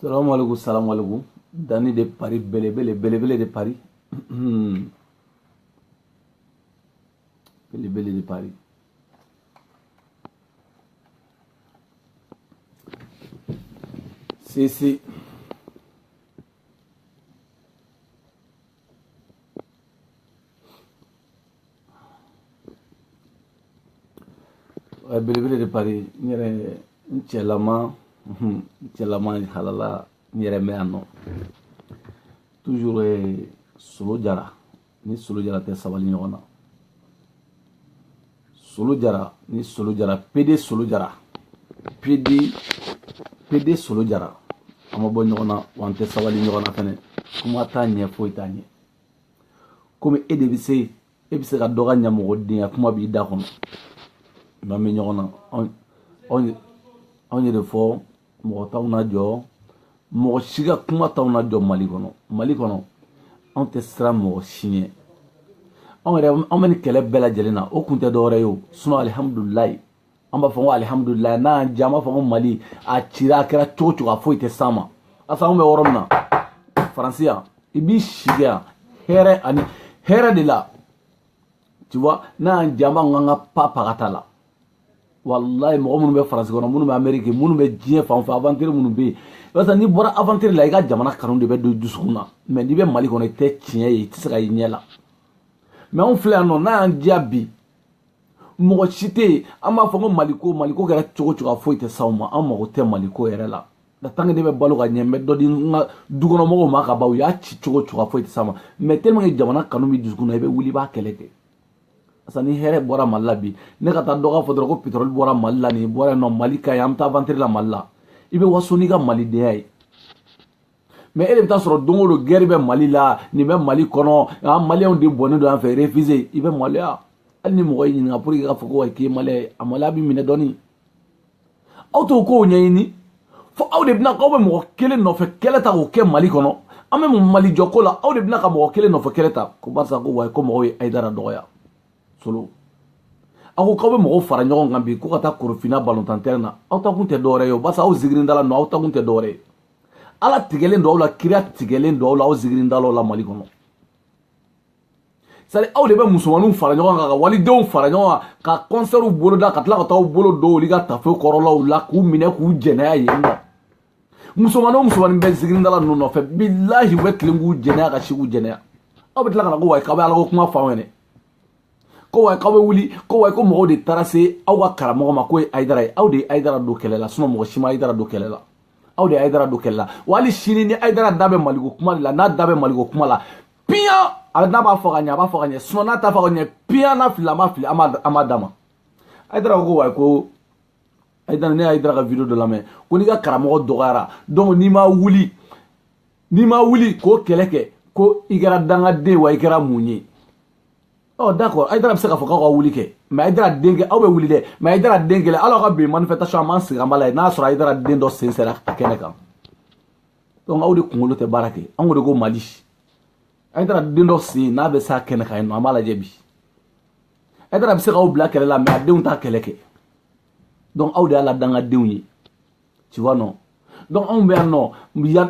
salamu alaikum salamu alaikum danni de pari belebele belebele de pari belebele de pari sisi belebele de pari n yɛrɛ n cɛlama n cɛlama halala n yɛrɛ n bɛ yan nɔ toujours solo jara ni solo jara tɛ sabali ɲɔgɔn na solo jara ni solo jara pede solo jara pede pede solo jara an ma bɔ ɲɔgɔn na wa an tɛ sabali ɲɔgɔn na fɛnɛ kuma t'a ɲɛ foyi t'a ɲɛ komi e de bɛ se e bɛ se ka dɔ ka ɲamɔgɔdenya kuma b'i da kɔnɔ n'an bɛ ɲɔgɔn na anw ye de fɔ mɔgɔ t'anw najɔ mɔgɔ si ka kuma t'anw najɔ mali kɔnɔ mali kɔnɔ anw tɛ siran mɔgɔ si ɲɛ anw yɛrɛ an bɛ nin kɛlɛ bɛɛ lajɛlen na o kun tɛ dɔwɛrɛ ye o sinɔ alihamudulilayi an b'a fɔ ko alihamudulilayi n'a y'an diya an b'a fɔ ko mali a cira a kɛra cogo cogo a foyi tɛ s'an ma asa anw bɛ yɔrɔ min na faransi yan i b'i si kɛ yan hɛrɛ ani hɛrɛ de la tu vois n'a y'an diya an b'a fɔ k'an ka pa pagata la walayi mɔgɔ minnu bɛ faransi kɔnɔ minnu bɛ ameriki minnu bɛ diɲɛ fan fɛ aventure minnu bɛ yen barisa n'i bɔra aventure la i ka jamana kanu de bɛ don dusukun na mɛ n'i bɛ mali kɔnɔ i tɛ tiɲɛ ye i tɛ se ka i ɲɛ la mɛ anw filɛ yan nɔ n'a y'an diya bi mɔgɔ si tɛ yen an b'a fɔ ko maliko maliko kɛra cogo cogo a foyi tɛ s'anw ma an mago tɛ maliko yɛrɛ la la tant que ne bɛ balo ka ɲɛ n bɛ dɔ di n ka dukɔnɔmɔgɔw ma ka ban u y'a ci cogo cogo a foyi tɛ s'an ma mɛ tellement que jamana kanu bɛ dusukun na i bɛ wuli i b'a kɛlɛ kɛ parce ni hɛrɛ bɔra mali la bi ne ka taa dɔgɔ fɔ dɔrɔn ko pétrole bɔra mali la nin bɔra nɔ mali ka ye an bɛ taa aventure la mali la i bɛ waso n'i ka malidenya ye mɛ e de bɛ t'a sɔrɔ don o don gɛri bɛ mali la nin bɛ mali kɔnɔ an maliyɛnw de bɔnnen don fan fɛ réfugié i bɛ maloya hali ni mɔgɔ y'i ɲininka pour que k'a fɔ ko wa k'i ye maliyɛn ye a maloya b'i minɛ dɔɔni aw t'o kow ɲɛɲini fo aw de bɛna k'aw bɛ mɔgɔ kelen nɔfɛ kɛlɛ ta k'o kɛ mali kɔnɔ an bɛ mun mali jɔ ko la aw de bɛna ka mɔgɔ kelen nɔfɛ kɛlɛ ta ko barisa ko wayi ko mɔgɔw ye ayidara dɔgɔya solo aw ko k'aw bɛ mɔgɔw fara ɲɔgɔn kan bi ko ka taa korofina balontan tɛrɛn na aw ta kun tɛ dɔwɛrɛ ye o barisa aw zigirindala nɔ aw ta kun tɛ dɔwɛrɛ ye ala tigɛlen don aw la kira tigɛlen don aw la aw zigirindalaw la mali kɔnɔ c'est-à-dire aw de bɛ musomaninw fara ɲɔgɔn kan ka walidenw fara ɲɔgɔn kan ka kɔnsɛriw boloda ka tila ka taa aw bolo don olu ka tafe kɔrɔlaw la k'u minɛ k'u jɛnɛya yen nɔ musomanin o musomanin bɛ zigirindala ninnu nɔfɛ bilahi u bɛ tilen k'u jɛnɛya ka si k'u jɛnɛya aw bɛ tila ka na ko wayi k'aw bɛ ala ko kuma fɔ anw ye dɛ ko wayi k'aw bɛ wuli ko wayi ko mɔgɔw de taara se aw ka karamɔgɔ ma k'o ye ayidara ye aw de ye ayidara don kɛlɛ la sinɔ mɔgɔ si ma ayidara don kɛlɛ la aw de ye ayidara don kɛlɛ la wa hali sini ni ayidara da bɛ maliko kuma de la n'a da bɛ maliko kuma la piyan a bɛ n'a b'a fɔ ka ɲɛ a b'a fɔ ka ɲɛ sinɔn n'a t'a fɔ ka ɲɛ piyan n'a fili a ma fili an b'a d'a ma ayidara ko wayi ko ayidara ne y'ayidara ka video dɔ lamɛn ko n'i ka karamɔgɔ dɔgɔyara donc n'i ma wuli n'i ma wuli k'o kɛlɛ kɛ ko i kɛra dangaden wa i kɛra mun ye ɔ d'accord ayidara bɛ se k'a fɔ k'aw ka wuli kɛ mɛ ayidara den kɛ aw bɛ wuli dɛ mɛ ayidara den kelen hali aw ka bi manifestation an b'an sigi an b'a lajɛ n'a sɔrɔ ayidara den dɔ sen sera kɛnɛ kan donc aw de kunkolo tɛ baara kɛ an ko de ko mali ayidara den dɔ sen n'a bɛ s'a kɛnɛ kan yen nɔ an b'a lajɛ bi ayidara bɛ se k'aw bila kɛlɛ la mɛ a denw t'a kɛlɛ kɛ donc aw de y'ala dangadenw ye tu vois non donc anw bɛ yan nɔ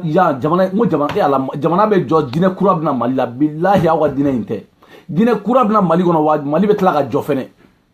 yan jamana n ko jamana e ala jamana bɛ jɔ diinɛ kura bɛ na mali la bilahi aw ka diinɛ in tɛ diinɛ kura bɛ na mali kɔnɔ wa mali bɛ tila ka jɔ fɛnɛ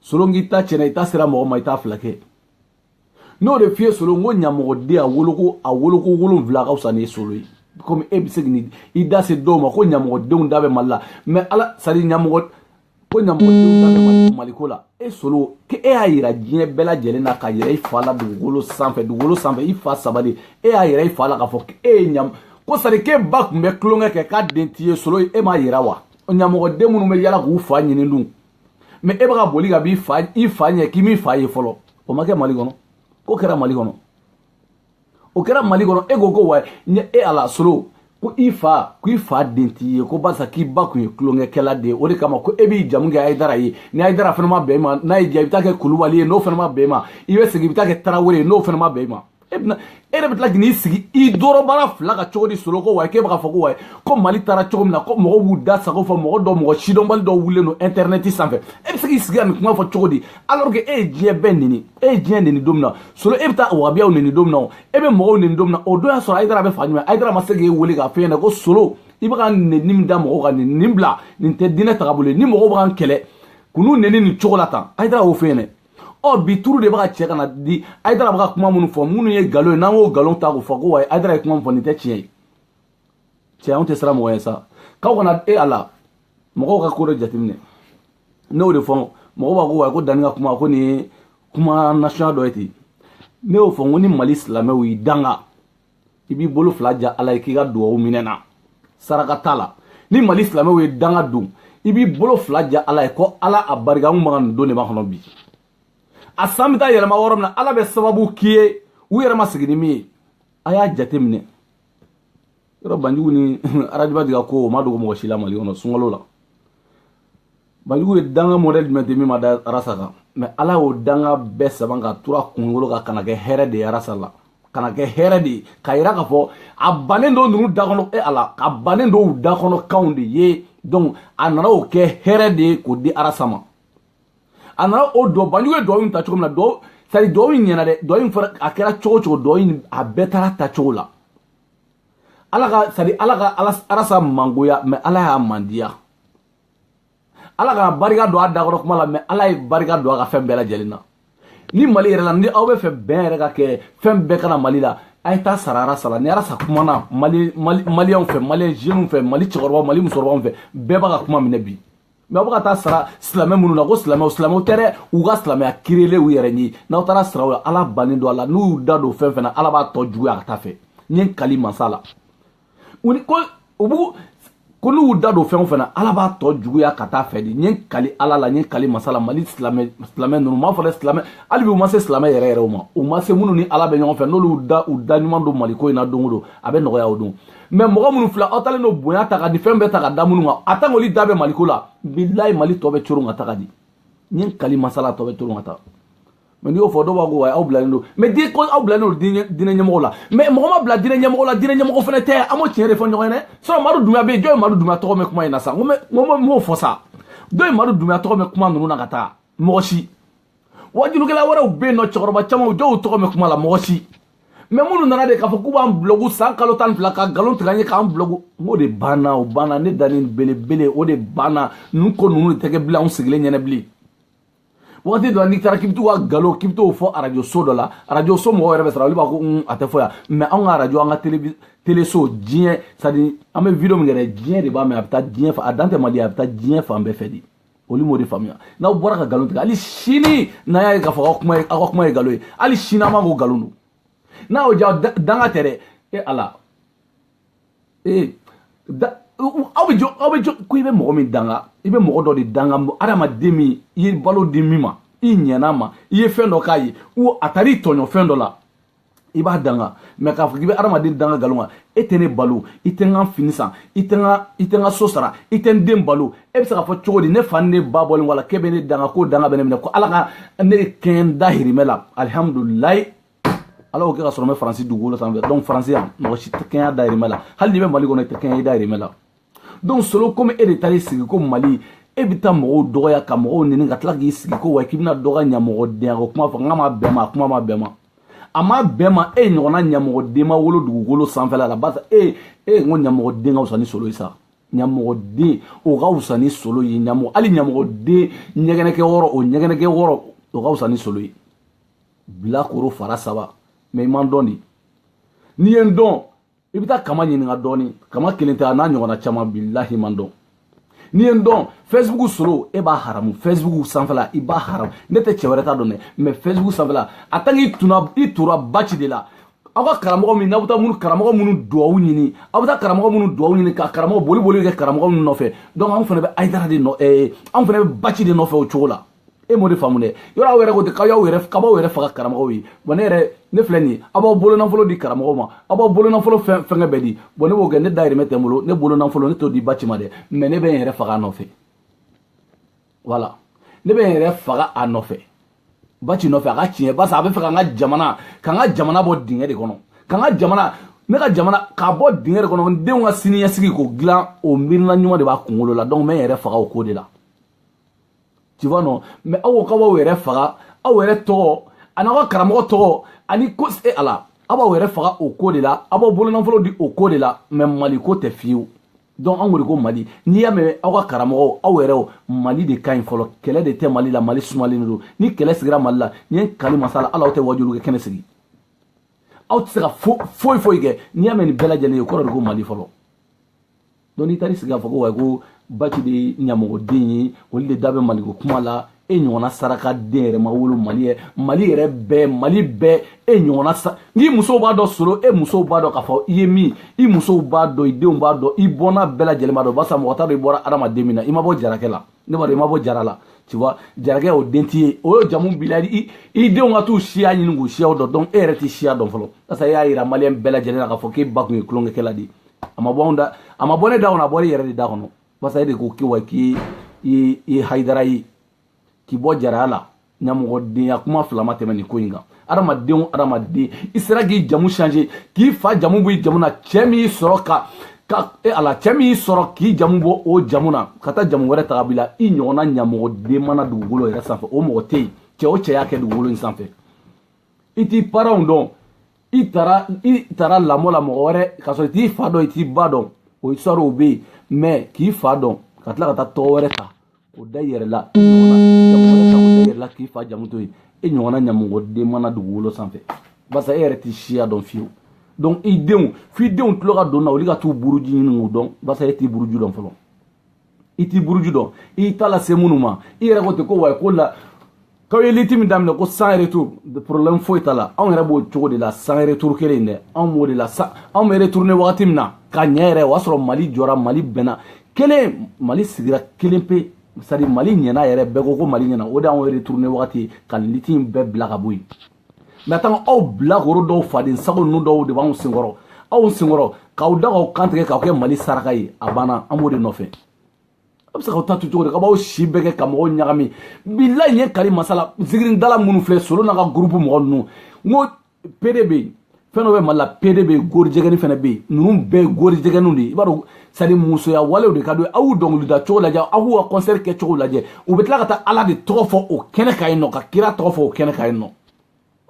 solo k'i ta tiɲɛna i ta sera mɔgɔ ma i t'a fila kɛ n'o de f'i ye solo n ko ɲamɔgɔden a woloko a woloko wolonwula ka fisa ni solo ye komi e bɛ se k'i i da se dɔw ma ko ɲamɔgɔdenw da bɛ mali la mɛ ala sari ɲamɔgɔ ko ɲamɔgɔdenw da bɛ mali maliko la e solo k'e e y'a yira diɲɛ bɛɛ lajɛlen na ka yɛrɛ i fa la dugukolo sanfɛ dugukolo sanfɛ i fa saba de e y'a yɛrɛ i fa la k'a fɔ e ye ɲam ko sari k'e ba tun bɛ tulonkɛ kɛ k'a den t'i ye solo e m'a yira wa ɲamɔgɔden minnu bɛ yala k'u fa ɲini dun mɛ e bɛ ka boli ka b'i fa i fa ɲɛ k'i m'i fa ye fɔlɔ o ma kɛ mali kɔnɔ k'o kɛra mali kɔnɔ o kɛra mali kɔnɔ e ko ko wa ɲɛ e ala solo ko i fa ko i fa den t'i ye ko barisa k'i ba kun ye tulonkɛkɛla de ye o de kama ko e b'i jamu kɛ ayidara ye ni ayidara fana ma bɛn i ma n'a y'i diya i bɛ taa kɛ kulubali ye n'o fana ma bɛn i ma i bɛ segin i bɛ taa kɛ tarawele ye n'o fana ma bɛn i ma e bɛna e yɛrɛ bɛ tila k'i sigi i dɔrɔbara fila kan cogo di solo ko wa k'e bɛ ka fɔ ko wa ko mali taara cogo min na ko mɔgɔw b'u da sago fɔ mɔgɔ dɔ mɔgɔ sidɔnbali dɔ wulilen don intɛrɛnɛti sanfɛ e bɛ se k'i sigi ka nin kuma fɔ cogo di alors que e ye diɲɛ bɛɛ neni e ye diɲɛ neni don min na solo e bɛ taa wabiyaw neni don min na o e bɛ mɔgɔw neni don min na o don y'a sɔrɔ ayidara bɛ fa ɲuman ayidara ma se k'e wele k'a f'e ɲɛna ko solo i bɛ ka neni min da mɔgɔw kan nin nin bila nin tɛ diinɛ tagabolo ye ni mɔgɔw bɛ ka n kɛlɛ kan'u neni nin cogo la tan ayidara y'o f'e ɲɛna ɔ bi turu de bɛ ka cɛ ka na di ayidara bɛ ka kuma minnu fɔ minnu ye nkalon ye n'an y'o nkalon ta k'o fɔ ko wa ayidara ye kuma min fɔ nin tɛ tiɲɛ ye cɛ anw tɛ siran mɔgɔ ye sa k'aw kana e ala mɔgɔw ka ko dɔ jateminɛ ne y'o de fɔ mɔgɔw b'a ko wa ko danni ka kuma ko nin ye kuma nasɔnya dɔ ye ten ne y'o fɔ n ko ni mali silamɛw y'i danga i b'i bolo fila ja ala ye k'i ka duwawu minɛ na saraka t'a la ni mali silamɛw y'i danga dun i b'i bolo fila ja ala ye ko ala a barika n maga nin don de b'a kɔnɔ bi a san bɛ taa yɛlɛma yɔrɔ min na ala bɛ sababu k'i ye u yɛrɛ ma sigi ni min ye a y'a jate minɛ yɔrɔ banjugu ni arajiba diga ko o ma dogo mɔgɔ si la mali kɔnɔ sunkalo la banjugu ye danga mɔdɛli jumɛn tɛ min ma da arasa kan mɛ ala y'o danga bɛɛ saban ka tura kunkolo kan ka n'a kɛ hɛrɛ de ye arasa la ka n'a kɛ hɛrɛ de ye k'a yira k'a fɔ a bannen don ninnu da kɔnɔ e ala a bannen don u da kɔnɔ kanw de ye donc a nana o kɛ hɛrɛ de ye k'o di arasa ma a nana o dɔ banjugu ye dɔw in ta cogo min na dɔw sari dɔw in ɲɛna dɛ dɔw in fara a kɛra cogo cogo dɔw in a bɛɛ taara ta cogo la ala ka sari ala ka ala arasa mangoya mɛ ala y'a mandiya ala kana barika don a da kɔnɔ kuma la mɛ ala ye barika don a ka fɛn bɛɛ lajɛlen na ni mali yɛrɛ la ni aw b'a fɛ bɛn yɛrɛ ka kɛ fɛn bɛɛ ka na mali la a ye taa sara arasa la ni arasa kumana mali mali maliyɛnw fɛ maliyɛn jeunes fɛ mali cɛkɔrɔbaw mali musokɔrɔbaw fɛ bɛɛ b'a ka kuma minɛ bi mɛ aw bɛ ka taa sara silamɛ minnu na ko silamɛw silamɛw tɛ dɛ u ka silamɛya kirele u yɛrɛ ye n'aw taara sara u la ala bannen don a la n'u y'u da don fɛn fɛn na ala b'a tɔ juguya ka taa fɛ n ye n kali masa la ko u b'u ko n'u y'u da don fɛn o fɛn na ala b'a tɔ juguya ka taa fɛ dɛ n ye n kali ala la n ye n kali masala mali silamɛ silamɛ ninnu m'a fɔ dɛ silamɛ hali bi u ma se silamɛ yɛrɛ yɛrɛw ma u ma se minnu ni ala bɛ ɲɔgɔn fɛ n'olu da u da ɲuman don maliko in na don o don a bɛ nɔgɔya o don mɛ mɔgɔ minnu filɛ aw taalen don bonya ta ka di fɛn bɛɛ ta ka da minnu kan a tan k'olu da bɛ maliko la bilayi mali tɔ bɛ coron ka taga dɛ n ye n kali masala tɔ bɛ coron ka taa mɛ n'i y'o fɔ dɔw b'a ko aw bilalen don mɛ di ko aw bilalen don diinɛ ɲɛmɔgɔ la mɛ mɔgɔ ma bila diinɛ ɲɛmɔgɔ la diinɛ ɲɛmɔgɔ fana tɛ an b'o tiɲɛ de fɔ ɲɔgɔn ye dɛ sɔrɔ madu dunya bɛ yen jɔn ye madu dunya tɔgɔ mɛn kuma in na sa n ko n m'o fɔ sa dɔ ye madu dunya tɔgɔ mɛn kuma ninnu na ka taa mɔgɔ si wajulikɛla wɛrɛw bɛ yen nɔ cɛkɔrɔba camanw dɔ y'u tɔgɔ mɛn kuma la mɔgɔ si mɛ minnu nana de k'a fɔ k'u b'an bulɔgu san kalo tan ni fila ka nkalon tigɛ an ye k'an bulɔgu n k'o de banna o banna ne dannen belebele o de banna ninnu ko ninnu de tɛ kɛ bilen anw sigilen ɲɛnɛ bilen wagati dɔ la n'i taara k'i bɛ t'u ka nkalon k'i bɛ t'o fɔ arajo so dɔ la arajo so mɔgɔw yɛrɛ bɛ siran olu b'a ko un a tɛ fɔ yan mɛ anw ka arajo an ka tele teleso diɲɛ c'est-à-dire an bɛ video min kɛ dɛ diɲɛ de b'a mɛn a bɛ taa diɲɛ fan a dan tɛ mali a bɛ taa diɲɛ fan bɛɛ fɛ de olu m'o de faamuya n'aw bɔra ka nkalon tigɛ hali sini n'an y'a ye k'a fɔ aw kuma ye aw ka kuma ye nkalon ye hali sini an b'a ko nkalon don n'a y'o diya danga tɛ dɛ e ala ee aw bɛ jɔ aw bɛ jɔ ko i bɛ mɔgɔ min danga i bɛ mɔgɔ dɔ de danga adamaden min i ye balo di min ma i ɲɛna ma i ye fɛn dɔ k'a ye wo a taara i tɔɲɔ fɛn dɔ la i b'a danga mɛ k'a fɔ k'i bɛ adamaden danga nkalon kan e tɛ ne balo i tɛ n ka fini san i tɛ n ka i tɛ n ka so sara i tɛ n den balo e bɛ se k'a fɔ cogo di ne fa ni ne ba bɔlen a la k'e bɛ ne danga k'o danga bɛ ne minɛ ko ala ka ne kɛɲɛ n dahirimɛ la alihamudulilayi ala y'o kɛ ka sɔrɔ n bɛ faransi dugukolo sanfɛ donc faransi yan mɔgɔ si tɛ kɛnɛya dayirimɛ la hali n'i bɛ mali kɔnɔ i tɛ kɛnɛya i dayirimɛ la donc solo komi e de taara i sigi ko mali e bɛ taa mɔgɔw dɔgɔya ka mɔgɔw nɛni ka tila k'i sigi ko wa k'i bɛna dɔ ka ɲamɔgɔdenya ko kuma fɔ n k'a ma bɛn ma a kuma ma bɛn ma a ma bɛn ma e ɲɔgɔnna ɲamɔgɔden ma wolo dugukolo sanfɛla la barisa e e n ko ɲamɔgɔden ka fisa ni solo ye sa ɲamɔgɔden o ka fisa ni solo ye ɲamɔgɔ hali ɲamɔgɔden ɲɛgɛnɛkɛyɔrɔ o ɲɛgɛnɛkɛyɔrɔ o ka fisa ni solo ye bilakoro fara saba mais i ma n dɔn de n'i ye n dɔn i bɛ taa kama ɲininka dɔɔni kama kelen tɛ a n'a ɲɔgɔnna caman bilahi i ma n dɔn n'i ye n dɔn facebook solo e b'a haramu facebook sanfɛla i b'a haramu ne tɛ cɛ wɛrɛ t'a dɔn dɛ mais facebook sanfɛla a tant i tuna i tora baci de la aw ka karamɔgɔ min n'aw bɛ taa minnu karamɔgɔ minnu duwawu ɲini aw bɛ taa karamɔgɔ minnu duwawu ɲini ka karamɔgɔ boli boli kɛ karamɔgɔ minnu nɔfɛ donc anw fana bɛ ayidara de nɔ ɛɛ anw fana bɛ baci de nɔfɛ o cogo la e m'o de faamu dɛ yɔrɔ aw yɛrɛ ko ten k'aw y'aw yɛrɛ k'aw yɛrɛ faga karamɔgɔw ye bon ne yɛrɛ ne filɛ nin ye aw b'aw bolonafolo di karamɔgɔw ma aw b'aw bolonafolo fɛn fɛnkɛ bɛɛ di bon ne b'o kɛ ne dayirimɛ tɛ n bolo ne bolonafolo ne t'o di baci ma dɛ mais ne bɛ n yɛrɛ faga a nɔfɛ wala ne bɛ n yɛrɛ faga a nɔfɛ baci nɔfɛ a ka tiɲɛ barisa a bɛ fɛ ka n ka jamana ka n ka jamana bɔ dingɛ de kɔnɔ ka n ka jamana ne ka jamana k'a bɔ dingɛ de kɔnɔ n denw ka siniɲɛsigi k'o dilan o miirina ɲuman de b'a kunkolo la donc n bɛ n yɛrɛ faga o ko de la tu vois non mais aw ka b'aw yɛrɛ faga aw yɛrɛ tɔgɔ ani aw ka karamɔgɔ tɔgɔ ani ko se a la aw b'aw yɛrɛ faga o ko de la aw b'aw bolonafolo di o ko de la mais mali ko tɛ fiyewu donc an ko de ko mali n'i y'a mɛn aw ka karamɔgɔw aw yɛrɛw mali de ka ɲi fɔlɔ kɛlɛ de tɛ mali la mali sumalen de don ni kɛlɛ sigira mali la ne ye n kali masa ala la aw tɛ wajuli kɛ kɛnɛ sigi aw tɛ se ka foyi foyi kɛ n'i y'a mɛn nin bɛɛ lajɛlen ye o kɔrɔ de ko mali fɔlɔ donc n'i taar'i sigi k'a fɔ ko wayi ko baci de ɲamɔgɔden ye olu de da bɛ maliko kuma la e ɲɔgɔnna sarakaden yɛrɛ ma wolo mali yɛ mali yɛrɛ bɛɛ mali bɛɛ e ɲɔgɔnna sa n'i musow b'a dɔn solo e musow b'a dɔn k'a fɔ i ye min i musow b'a dɔn i denw b'a dɔn i bɔnna bɛɛ lajɛlen b'a dɔn barisa mɔgɔ t'a dɔn i bɔra adamaden min na i ma bɔ jarakɛ la ne b'a dɔn i ma bɔ jara la tu vois jarakɛ o den t'i ye o y'o jamu b'i la i i denw ka t'u siya ɲini k'u siyaw dɔn donc e yɛrɛ t'i siya dɔn fɔlɔ barisa e y'a yira maliyɛn bɛɛ lajɛlen na k'a fɔ k'e ba tun ye tulonkɛkɛla de ye a ma bɔ anw da a ma bɔ ne da kɔnɔ a bɔra i yɛrɛ de da kɔnɔ basa e de ko k'i wa k'i i i hayidara ye k'i bɔ jaraya la ɲamɔgɔdenya kuma fila ma tɛmɛ nin ko in kan adamadenw adamaden i sera k'i jamu change k'i fa jamu b'i jamu na cɛɛ min y'i sɔrɔ ka ka e ala cɛɛ min y'i sɔrɔ k'i jamu bɔ o jamu na ka taa jamu wɛrɛ ta k'a bil'i la i ɲɔgɔnna ɲamɔgɔden ma na dugukolo yɛrɛ sanfɛ o mɔgɔ tɛ yen cɛɛ o cɛɛ y'a kɛ dugukolo in sanfɛ i t'i paranw dɔn i taara i taara lamɔ la mɔgɔ wɛrɛ k'a sɔrɔ i t'i fa dɔn i t'i ba dɔn o histoire o bɛ yen mais k'i fa dɔn ka tila ka taa tɔgɔ wɛrɛ ta k'o da i yɛrɛ la i ɲɔgɔnna jamu wɛrɛ ta k'o da i yɛrɛ la k'i fa jamu to yen e ɲɔgɔnna ɲamɔgɔden ma na dugukolo sanfɛ barisa e yɛrɛ t'i siya dɔn fiyewu donc i denw f'i denw tulo ka don na olu ka t'u buruju ɲini k'u dɔn barisa e t'i buruju dɔn fɔlɔ i t'i buruju dɔn i y'i ta lase minnu ma i yɛrɛ ko ten ko wayi ko la k'aw ye lutte min daminɛ ko sans retour problème foyi t'a la anw yɛrɛ b'o cogo de la sans retour kelen in dɛ anw b'o de la sa anw bɛ retourne wagati min na ka ɲɛ yɛrɛ o y'a sɔrɔ mali jɔra mali bɛnna kelen mali sigira kelen pe c'est-à-dire mali ɲɛna yɛrɛ bɛɛ ko ko mali ɲɛna o de y'anw retourne wagati ye ka lutte in bɛɛ bila ka bɔ yen mais a tan aw bilakoro dɔw faden sago ninnu dɔw de b'aw senkɔrɔ aw senkɔrɔ k'aw da k'aw kan tigɛ k'aw kɛ mali saraka ye a banna an b'o de nɔfɛ a bɛ se k'aw ta to cogo di ka b'aw si bɛɛ kɛ ka mɔgɔw ɲagami bilayi ye kari masala zikiridala minnu filɛ solo n'a ka gurupu mɔgɔ ninnu n ko pede bɛ yen fɛn dɔ bɛ mali la pede bɛ yen gorijɛgɛni fana bɛ yen ninnu bɛɛ ye gorijɛgɛninw de ye i b'a dɔn sani musoya walew de ka d'u ye aw y'u dɔnkilida cogo lajɛ aw k'u ka kɔnsɛri kɛ cogo lajɛ u bɛ tila ka taa ala de tɔgɔ fɔ o kɛnɛ kan yen nɔ ka kira tɔgɔ fɔ o kɛnɛ kan yen nɔ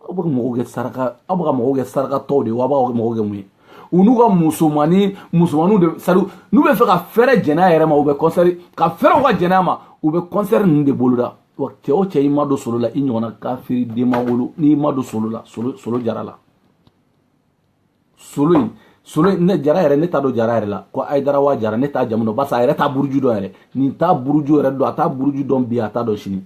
aw bɛ ka mɔgɔw kɛ saraka aw bɛ ka mɔgɔw kɛ sarakatɔw de ye wa aw b'a kɛ mɔgɔw kɛ mun ye u n'u ka musomanni musomanninw de sari n'u bɛ fɛ ka fɛɛrɛ jɛnɛya yɛrɛ ma u bɛ kɔnsɛri ka fɛɛrɛw ka jɛnɛya ma u bɛ kɔnsɛri ninnu de boloda wa cɛ o cɛ i ma don solo la i ɲɔgɔnna kafiri den ma wolo n'i ma don solo la solo jara la solo in solo in ne jara yɛrɛ ne t'a dɔn jara yɛrɛ la ko ayidara wa jara ne t'a jamu dɔn barisa a yɛrɛ t'a buruju dɔn yɛrɛ nin t'a buruju yɛrɛ dɔn a t'a buruju dɔn bi a t'a dɔn sini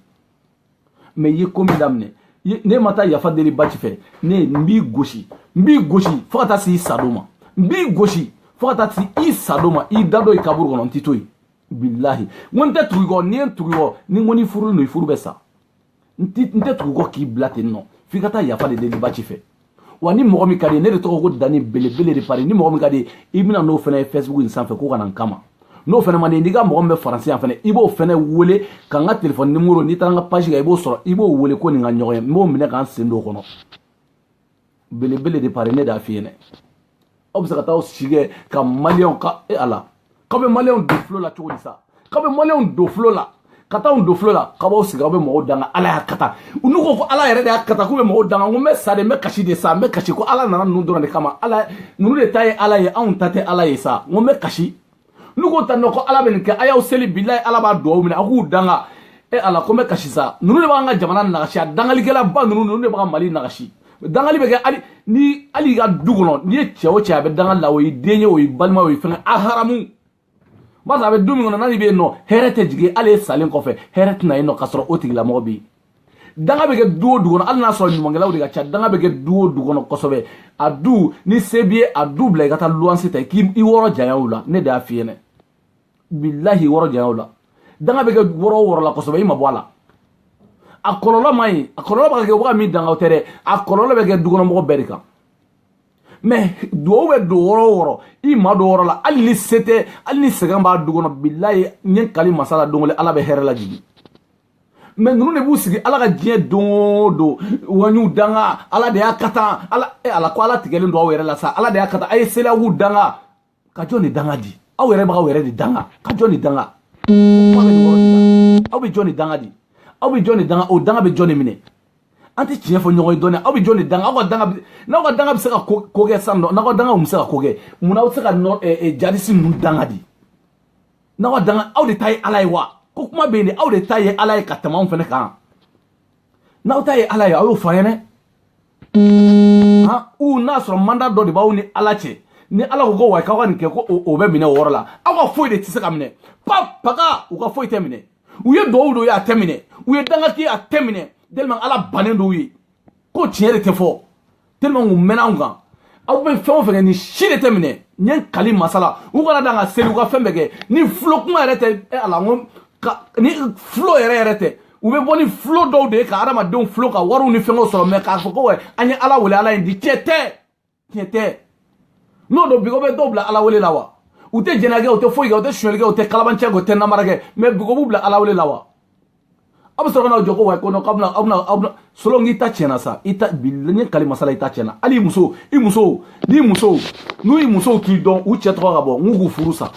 mais i ye ko min daminɛ n'e ma taa yafa deli baci fɛ ne n b'i gosi n b'i gosi fo ka taa se i sadon ma n b'i gosi fo ka taa se i sadon ma i da don i kaburu kɔnɔ n t'i to yen bilahi n ko n tɛ tugu i kɔ n'i ye n tugu i kɔ ni n ko ni furu don i furu bɛ sa n tɛ tugu i kɔ k'i bila ten nɔ f'i ka taa yafa de deli baci fɛ wa ni mɔgɔ min ka d'i ye ne de tɔgɔ ko dani belebele de paris ni mɔgɔ min ka d'i ye i bɛ na n'o fana ye facebook in sanfɛ k'o ka na n kama n'o fana man di n'i ka mɔgɔ min bɛ faransi yan fana i b'o fana wele ka n ka telefɔni nimoro n'i taara n ka page kan i b'o sɔrɔ i b'o wele k'o ni n ka ɲɔgɔn ye n b'o minɛ ka n sen don o kɔnɔ belebele de paris ne de y'a f'i ɲɛna aw bɛ se ka taa aw si kɛ ka maliyɛnw ka e ala k'aw bɛ maliyɛnw don fulo la cogo di sa k'aw bɛ maliyɛnw don fulo la ka taa don fulo la k'aw b'aw sigi aw bɛ mɔgɔw danga ala y'a kata n'u ko ko ala yɛrɛ de y'a kata k'u bɛ mɔgɔw danga ko n bɛ sa de n bɛ kasi de sa n bɛ kasi ko ala nana ninnu dɔrɔn de kama ala ninnu de ta ye ala ye anw ta tɛ ala ye sa n ko n bɛ kasi n'u ko tan nɔ ko ala bɛ nin kɛ a y'aw seli bilayi ala b'a dugawu minɛ a k'u danga e ala ko n bɛ kasi sa ninnu de b'an ka jamana nagasi a dangalikɛlaba ninnu ninnu de bɛ ka mali nagasi dangali bɛ kɛ hali ni hali i ka du kɔnɔ n'i ye cɛ o cɛ a bɛ dangali la o y'i den ye o y'i balima o y'i fɛnkɛ a haramu barisa a bɛ du min kɔnɔ n'a ni bɛ yen nɔ hɛrɛ tɛ jigin hali e salen kɔfɛ hɛrɛ tɛ na yen nɔ k'a sɔrɔ o tigilamɔgɔ bɛ yen danga bɛ kɛ du o du kɔnɔ hali n'a sɔrɔ ɲumankɛlaw de ka ca danga bɛ kɛ du o du kɔnɔ kosɛbɛ a du ni se b'i ye a du bila i ka taa luwanse ta i k'i i wɔrɔ janya o la ne de y'a f'i ɲɛna bilahi wɔrɔ janya o la danga bɛ kɛ wɔrɔ o wɔrɔ la kosɛbɛ i ma bɔ a la a kɔlɔlɔ man ɲi a kɔlɔlɔ bɛ ka kɛ waga min dangaw tɛ dɛ a kɔlɔlɔ bɛ kɛ dukɔnɔmɔgɔ bɛɛ de kan mɛ duwawu bɛ don wɔrɔ o wɔrɔ i ma don wɔrɔ la hali ni se tɛ hali ni sɛgɛn b'a du kɔnɔ bilahi n ye kali masa la don kelen ala bɛ hɛrɛ lajigin maa ninnu de b'u sigi ala ka diɲɛ don o don waɲuw danga ala de y'a kɛ tan ala e ala ko ala tigɛlen don aw yɛrɛ la sa ala de y'a kɛ tan a ye selawu danga ka jɔn de danga di aw yɛrɛ b'aw yɛrɛ de danga ka jɔn de danga aw bɛ jɔn de danga di aw bɛ jɔn de danga o danga bɛ jɔn de minɛ an tɛ tiɲɛ fɔ ɲɔgɔn ye dɔɔni aw bɛ jɔn de danga aw ka danga n'aw ka danga bɛ se ka ko kɛ sisan nɔ n'aw ka danga bɛ se ka ko kɛ mun na aw tɛ se ka jihadisi ninnu danga di n'aw ka danga aw de ta ye ala ye wa ko kuma bɛ yen dɛ aw de ta ye ala ye ka tɛmɛ anw fana kan n'aw ta ye ala ye aw y'o fɔ an ye dɛ u n'a sɔrɔ manda dɔ de b'aw ni ala cɛ ni ala ko ko wa k'aw ka nin kɛ ko o bɛ minɛ o yɔrɔ la aw ka foyi de tɛ se ka minɛ pa paga u ka foyi tɛ minɛ u ye duwawu dɔw ye a tɛ minɛ u ye danga kɛ a tɛ minɛ tellement ala bannen don u ye ko tiɲɛ de tɛ fɔ tellement u mɛnna anw kan aw bɛ fɛn o fɛn kɛ nin si de tɛ minɛ n ye kali masa la u kana dan ka seli u ka fɛn bɛɛ kɛ ni fulo kuma yɛrɛ tɛ e ala n ko ka ni fulo yɛrɛ yɛrɛ tɛ u bɛ bɔ ni fulo dɔw de ye ka hadamadenw fulo ka wariw ni fɛngɛw sɔrɔ mɛ k'a fɔ ko wɛ an ye ala wele ala ye di tiɲɛ tɛ tiɲɛ tɛ n'o don bi o bɛ dɔw bila ala wele la wa u tɛ jɛnɛya kɛ u tɛ foyi kɛ u tɛ sonyali kɛ u tɛ kalabanciya kɛ u tɛ namara kɛ mɛ bi o b'u bila ala wele la wa aw bɛ sɔrɔ ka n'aw jɔ ko wa ko nɔ k'aw bɛna aw bɛna aw bɛna solo n'i ta tiɲɛna sa i ta bi n ye kali masa la i ta tiɲɛna hali muso i muso n'i muso n'u ye musow t'i dɔn u cɛ tɔgɔ ka bɔ n'u k'u furu sa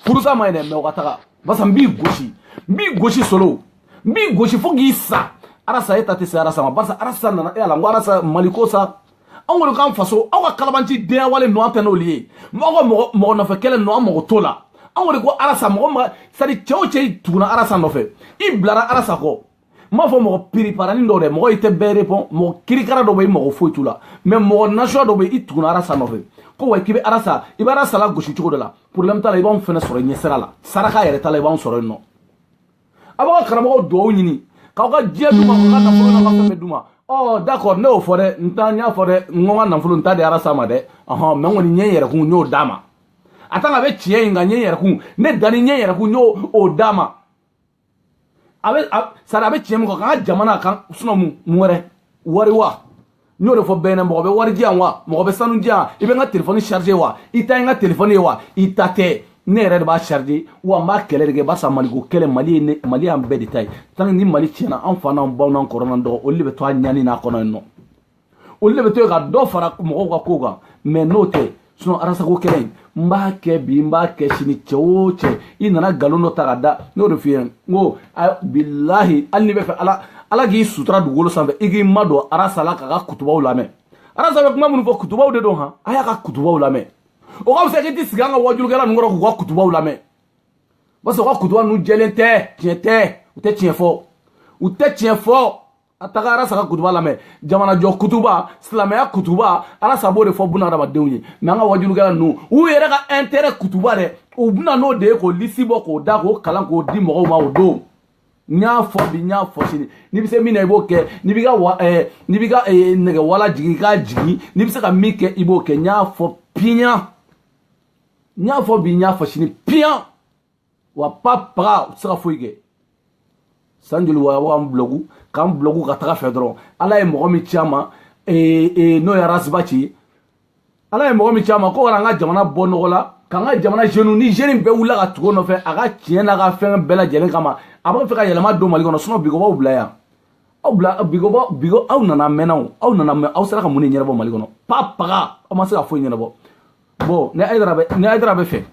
furu sa man ɲi dɛ mɛ u ka taga barisa n b'i gosi n b'i gosi solo n b'i gosi fo k'i sa arasa e ta tɛ se arasa ma barisa arasa nana e y'a la n ko arasa mali ko sa anw kɔni k'an faso aw ka kalabanci denyawale ninnu an tɛ n'olu ye aw ka mɔgɔ mɔgɔ nɔfɛ kɛlɛ ninnu an mago t'o la anw kɔni ko arasa mɔgɔ ma sadi cɛ o cɛ i tuguna arasa nɔfɛ i bilara arasa kɔ n b'a fɔ mɔgɔ piriparanin dɔw dɛ mɔgɔ i tɛ bɛɛ repɔn mɔgɔ kirikara dɔ bɛ i mago foyi t'u la mɛ mɔgɔ nasuya dɔ bɛ i tuguna arasa nɔfɛ ko wa k'i bɛ arasa i bɛ arasa lagosi cogo dɔ la porobilɛmu t'a la i b'anw fɛnɛ sɔrɔ ɲɛsira la saraka yɛrɛ t'a la i b'anw sɔrɔ yen nɔ a b'a ka karamɔgɔw dugawu ɲini k'aw ka diɲɛ d'u ma k'aw ka nafolo n'aw ka fɛn bɛɛ d'u ma ɔ d'accord ne y'o fɔ dɛ n ta n y'a fɔ dɛ n ko n ka nafolo n t'a di arasa ma dɛ ɔhɔn mɛ n kɔni ne yɛrɛkun n y'o d'a ma a tant qu'a bɛ tiɲɛ in kan ne yɛrɛkun ne danni ne yɛrɛkun n y'o o d'a ma a bɛ sari a bɛ tiɲɛ min kɔ k'an ka jamana kan sinɔn mun wɛrɛ wari wa n y'o de fɔ bɛɛ ɲɛna mɔgɔ bɛ wari di yan wa mɔgɔ bɛ sanu di yan i bɛ n ka telefɔni charge wa i ta ye n ka telefɔni ye wa i ta tɛ ne yɛrɛ de b'a charge wa n b'a kɛlɛ de kɛ barisa maliko kɛlɛ mali ye ne mali y'an bɛɛ de ta ye tant que ni mali tiɲɛna an fa n'an baw n'an kɔrɔ n'an dɔgɔ olu de bɛ to a ɲani nin kɔnɔ yen nɔ olu de bɛ to yen ka dɔ fara mɔgɔw ka kow kan mɛ n'o tɛ sinɔn arasako kɛlɛ in n b'a kɛ bi n b'a kɛ sini cɛ o cɛ i nana nkalon dɔ ta ka da n y'o de f'i ye n ko bilahi hali n'i b'a fɛ ala ala k'i sutura dugukolo sanfɛ i k'i madon arasa la k'a ka kutubaw lamɛn arasa bɛ kuma minnu fɔ kutubaw de don han a y'a ka kutubaw lamɛn o ka fisa k'i t'i sigi an ka wajulukɛla ninnu kɔrɔ k'u ka kutubaw lamɛn parce que u ka kutuba ninnu jɛlen tɛ tiɲɛ tɛ u tɛ tiɲɛ fɔ u tɛ tiɲɛ fɔ a taga arasa ka kutuba lamɛn jamanajɔ kutuba silamɛya kutuba arasa b'o de fɔ buna adamadenw ye mɛ an ka wajulukɛla ninnu u yɛrɛ ka intérêt kutuba dɛ u bɛ na n'o de ye k'o lisi bɔ k'o da k'o kalan k'o di mɔgɔw ma o don n y'a fɔ bi n y'a fɔ sini n'i bɛ se min na i b'o kɛ n'i b'i ka wa ɛɛ n'i b'i ka ɛɛ nɛgɛwala jigin i k'a jigin n'i bɛ se ka min kɛ i b'o kɛ n y'a fɔ piyan n y'a fɔ bi n y'a fɔ sini piyan. wa pa paga u tɛ se ka foyi kɛ san joli wa wa n bulɔgu k'an bulɔgu ka taga fɛ dɔrɔn ala ye mɔgɔ min ci an ma ee, ee, n'o ye arasi baci ye ala ye mɔgɔ min ci an ma ko wala an ka jamana bɔ nɔgɔ la k'an ka jamana zenu ni zeni bɛɛ wulila ka tugu a nɔfɛ a ka tiɲɛ n'a ka fɛn bɛɛ lajɛlen kama a b'a fɛ ka yɛlɛma don mali kɔnɔ sinɔ bigobaw bila yan aw bila bigobaw bigo aw nana mɛnnaw aw nana mɛn aw sera ka mun de ɲɛnabɔ mali kɔnɔ pa paga aw ma se ka foyi ɲɛnabɔ bɔn ni ayidara bɛ ni ayidara b'a fɛ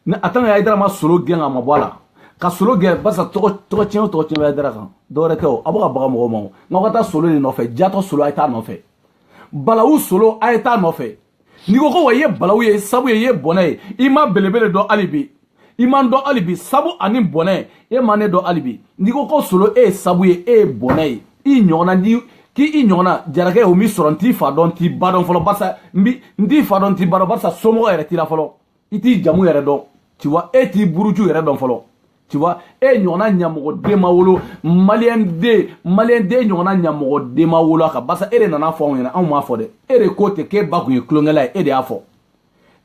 ni a tan ka ayidara ma solo gɛn a ma bɔ a la ka solo gɛn barisa tɔgɔ tɔgɔ tiɲɛ o tɔgɔ tiɲɛ bɛ ayidara kan dɔwɛrɛ tɛ o a bɛ ka baga mɔgɔw ma o nka aw ka taa solo de nɔfɛ jatɔ solo a ye taa nɔfɛ balawu solo a ye taa nɔfɛ n'i ko ko wa i ye balawu ye sabu ye i ye bɔnɛ ye i ma belebele dɔn hali bi i ma n dɔn hali bi sabu ani bɔnɛ e ma ne dɔn hali bi n'i ko ko solo e ye sabu ye e ye bɔnɛ ye i ɲɔgɔnna ni k'i i ɲɔgɔnna jarakɛ o min sɔrɔ n t'i fa dɔn n t'i ba dɔn fɔlɔ barisa n t'i fa dɔn n t'i ba dɔn barisa somɔgɔ yɛrɛ t'i la fɔlɔ i t'i jamu yɛrɛ dɔn tu vois e t'i buruju yɛrɛ dɔn fɔlɔ tu vois e ɲɔgɔnna ɲamɔgɔden ma wolo mali yan dɛ mali yan dɛ e ɲɔgɔnna ɲamɔgɔden ma wolo a kan barisa e de nan'a fɔ anw ɲɛna anw m'a fɔ dɛ e de ko ten k'e ba kun ye tulonkɛla ye e de y'a fɔ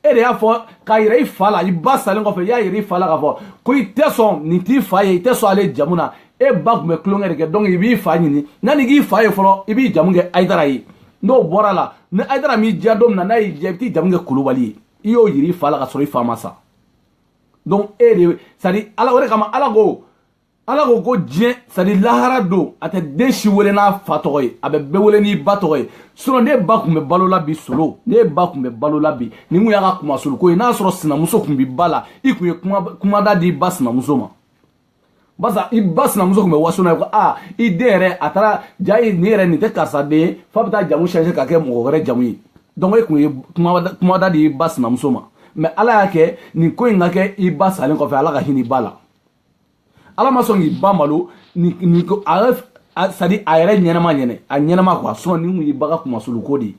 e de y'a fɔ k'a yira i fa la i ba salen kɔfɛ i y'a yira i fa la k'a fɔ ko i tɛ sɔn nin t'i fa ye i tɛ sɔn ale jamu na e ba tun bɛ tulonkɛ de kɛ donc i b'i fa ɲini yanni i k'i fa ye fɔlɔ i b'i jamu kɛ ayidara ye n'o bɔra a la ni ayidara m'i diya don min na n'a y'i diya i bɛ t'i jamu kɛ kulubali ye i y'o yira i fa la ka sɔrɔ i fa ma sa donc e de c'est à dire ala o de kama ala ko ala ko ko diɲɛ sadi lahara don a tɛ den si wele n'a fa tɔgɔ ye a bɛ bɛɛ wele n'i ba tɔgɔ ye sinɔ n'e ba tun bɛ balo la bi solo n'e ba tun bɛ balo la bi nin tun y'a ka kunmasuli ko ye n'a sɔrɔ sinamuso tun b'i ba la i tun ye kumada d'i ba sinamuso ma barisa i ba sinamuso tun bɛ waso n'a ye ko aa i den yɛrɛ a taara ja ye nin yɛrɛ nin tɛ karisa den ye f'a bɛ taa jamu change ka kɛ mɔgɔ wɛrɛ jamu ye donc e tun ye kumada di i ba sinamuso ma mɛ ala y'a kɛ nin ko in ka kɛ i ba salen kɔfɛ ala ka hinɛ i ba la ala ma sɔn k'i ba malo ni ni ko a a sadi a yɛrɛ ɲɛnama ɲɛnɛ a ɲɛnama kuwa sinɔ nin kun y'i ba ka kunmasuli ko de ye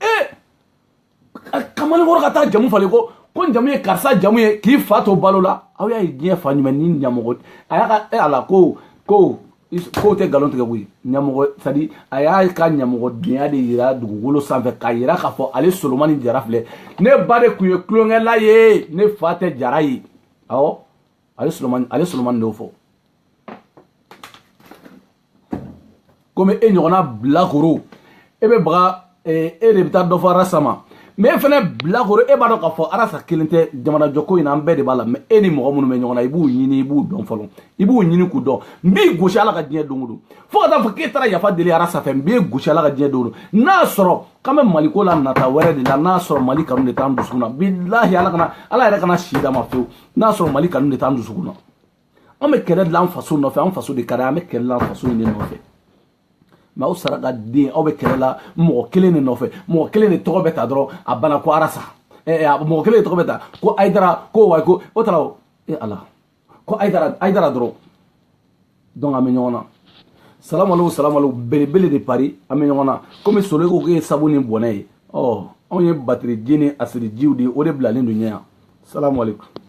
ee kamalikɔrɔ ka taa jamu falen ko ko n jamu ye karisa jamu ye k'i fa to balo la aw y'a ye diɲɛ fa ɲuman ni ɲamɔgɔ a y'a ka e ala ko ko kow tɛ nkalon tigɛ koyi ɲamɔgɔ sadi a y'a ka ɲamɔgɔdenya de yira dugukolo sanfɛ k'a yira k'a fɔ ale solomani jara filɛ ne ba de tun ye tulonkɛla ye ne fa tɛ jara ye awɔ a bɛ solomani a bɛ solomani dɔw fɔ komi e ɲɔgɔnna bilakoro e bɛ baga e de bɛ taa dɔ fɔ arasa ma mɛ e fana bilakoro e b'a dɔn k'a fɔ arasa kelen tɛ jamanajɔko in na an bɛɛ de b'a la mɛ e ni mɔgɔ minnu bɛ ɲɔgɔn na i b'u ɲini i b'u dɔn fɔlɔ i b'u ɲini k'u dɔn n b'i gosi ala ka diɲɛ don o don fo ka taa fɔ k'e taara yafa deli arasa fɛ n b'i gosi ala ka diɲɛ don o don n'a sɔrɔ k'an bɛ mali ko la nata wɛrɛ de la n'a sɔrɔ mali kanu de t'an dusukun na bilahi ala kana ala yɛrɛ kana si d'an ma fewu n'a sɔrɔ mali kanu de t'an dusukun na an bɛ kɛlɛ de la an faso nɔfɛ an faso de ka di an bɛ kɛlɛ de la an faso in de nɔfɛ mɛ aw saraka den aw bɛ kɛlɛ la mɔgɔ kelen de nɔfɛ mɔgɔ kelen de tɔgɔ bɛ ta dɔrɔn a bana ko arasa mɔgɔ kelen de tɔgɔ bɛ ta ko ayidara ko wa ko o tara o e ala ko ayidara dɔrɔn donc an bɛ ɲɔgɔn na salamalekum salamalekum belebele de pari an bɛ ɲɔgɔn na komi solo ko k'e ye sabu ni bɔnɛ ye ɔ anw ye batiriji ni asirijiw de ye o de bilalen don ɲɛ yan salamalekum